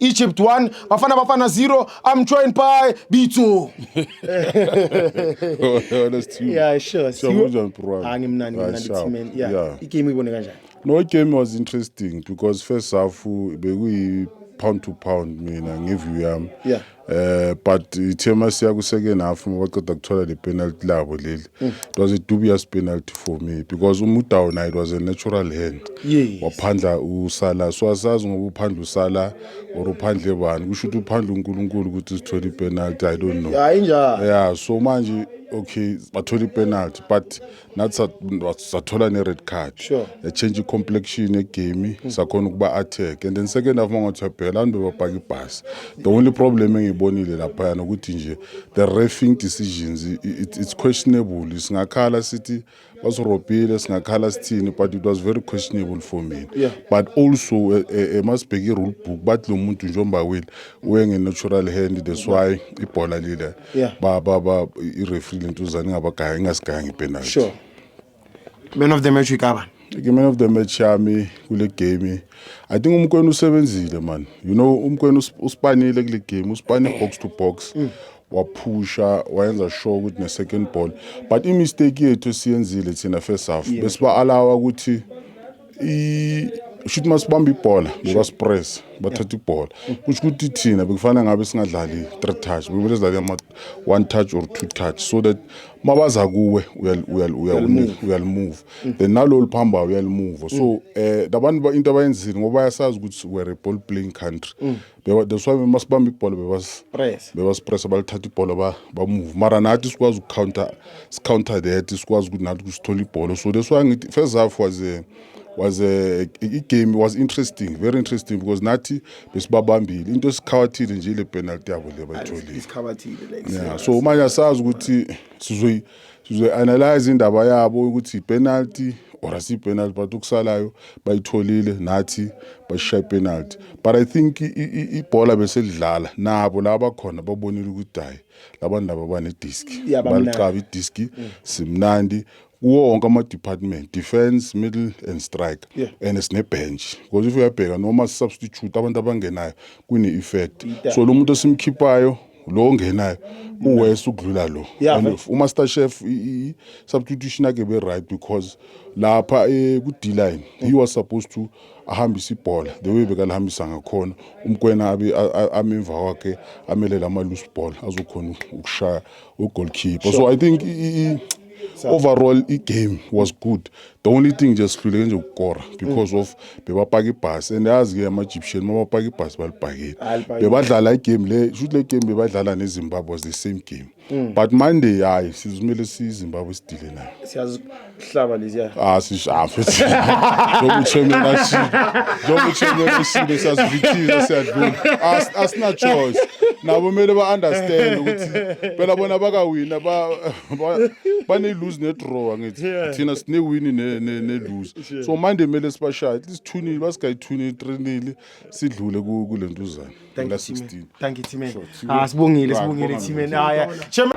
Egypt 1 Bafana Bafana 0 I'm joined by Bitso Yeah sure so kunjani bro angimnandi ah, ngimnandi team and yeah i game ibone kanjani No i game was interesting because first half bekuyi pound to pound mina ngeview yami yeah eh but ithema siya ku second half ngoba qeda kuthola le penalty labo leli Mm. It was a dubious penalty for me because uMudau naye it was a natural hand. Yes. Waphandla usala so asazi ngoba uphandla usala or uphandle bani kusho ukuthi uphandla uNkulunkulu ukuthi sithole ipenalty I don't know. Hayi njalo. Yeah so manje okay bathola ipenalty but nathi sa- sathola ne-red card Sure. yachange i-complexion yegame sakhona ukuba attack and then second half uma ngathi uyabheka abantu bebabhaka ibhasi the only problem engiyibonile laphayana ukuthi nje the refing decisions it, it's questionable singakhala sithi basirobhile singakhala sithini but it was very questionable for me yeah. but also eh, eh, eh, masibheke i-rule book bathi lo muntu njengoba wile uyengenatural hand that's why ibhola lile yeah. ba, ba, ba, i-refree lentuzane ingabagaya ingasigayangi ipenalty sure. man of the match uyikaba i-man of the match yami kule game i think umkwena usebenzile man you know umkwena usipanile kule game usipane box to box mm. waphusha wayenza sure ukuthi ne-second ball but imistake yethu esiyenzile thina first half besiba-alawa ukuthi shuthi masibamba ibhola bekasipress bathatha ibhola kusho ukuthi thina bekufanele ngabe singadlali three touch bekumele sidlale ama one touch or two touch so that mabaza kuwe uyalimove then nalo liphambayo uyalimove so um labantu into abayenzile ngoba bayasazi ukuthi we're a ball playing country mm. that's why masibamba ibhola bebasipressa balithatha ibhola bamove mara nathi sikwazi ukucounter sicounter that sikwazi ukuthi nathi kusithola ibhola so that's why ngithi first half was a was a igame was interesting very interesting because nathi besibabambile into esikhawathile nje ile penalty yabo le bayitholile yeah so manje asazi ukuthi sizoyi sizoyi-analyze indaba yabo ukuthi ipenalty or asiyipenalty but okusalayo bayitholile nathi basishaye ipenalty but i think ibhola beselidlala nabo laba bakhona babonile ukuthi hayi labantu laba banediski Yeah, bamnandi. balicaba idiski simnandi kuwo wonke ama-department defence middle and strike Yeah. and sine-bench because if uyabheka noma si-substitute abantu abangenayo kune-effect so lo muntu osimkhiphayo lo ongenayo uwese ukudlula lo Yeah, And right. umaster chef i- i- substitution yakhe be right because lapha eh, ku D line he was supposed to ahambise ibhola the way bekalihambisa ngakhona umkwena abe a- a- amemva kwakhe amelele ama loose ball azokhona ukushaya u goalkeeper so i think i- i- i- overall i game was good the only thing nje sihluleke nje ukukora because of bebapaka ibhasi and yazi ke ama-egyptian uma bapaka ibhasi balibhakile bebadlala igame le shuthi le game bebadlala nezimbabwe was the same game mm. but monday hayi sizimele siyizimbabwe sidile nayo siyazihlaba leziya ah sishafe njengochemela ashile njengochemela ashile siyazivithiza siyadlula asina choice nabo kumele ba-understand ukuthi phela bona bakawina bane-lose ne-draw angithi Yeah. thina sinewini ne- ne- ne-lose Sure. so manje kumele sibashaye at least thunile basingayithunile trinile sidlule ku- kule ntuzana Thank you, Team. la-16 Thank you, Team. Sure, Team. Ah, sibongile, Right, sibongile, bonga Team. mina. Ah, yeah. Chairman-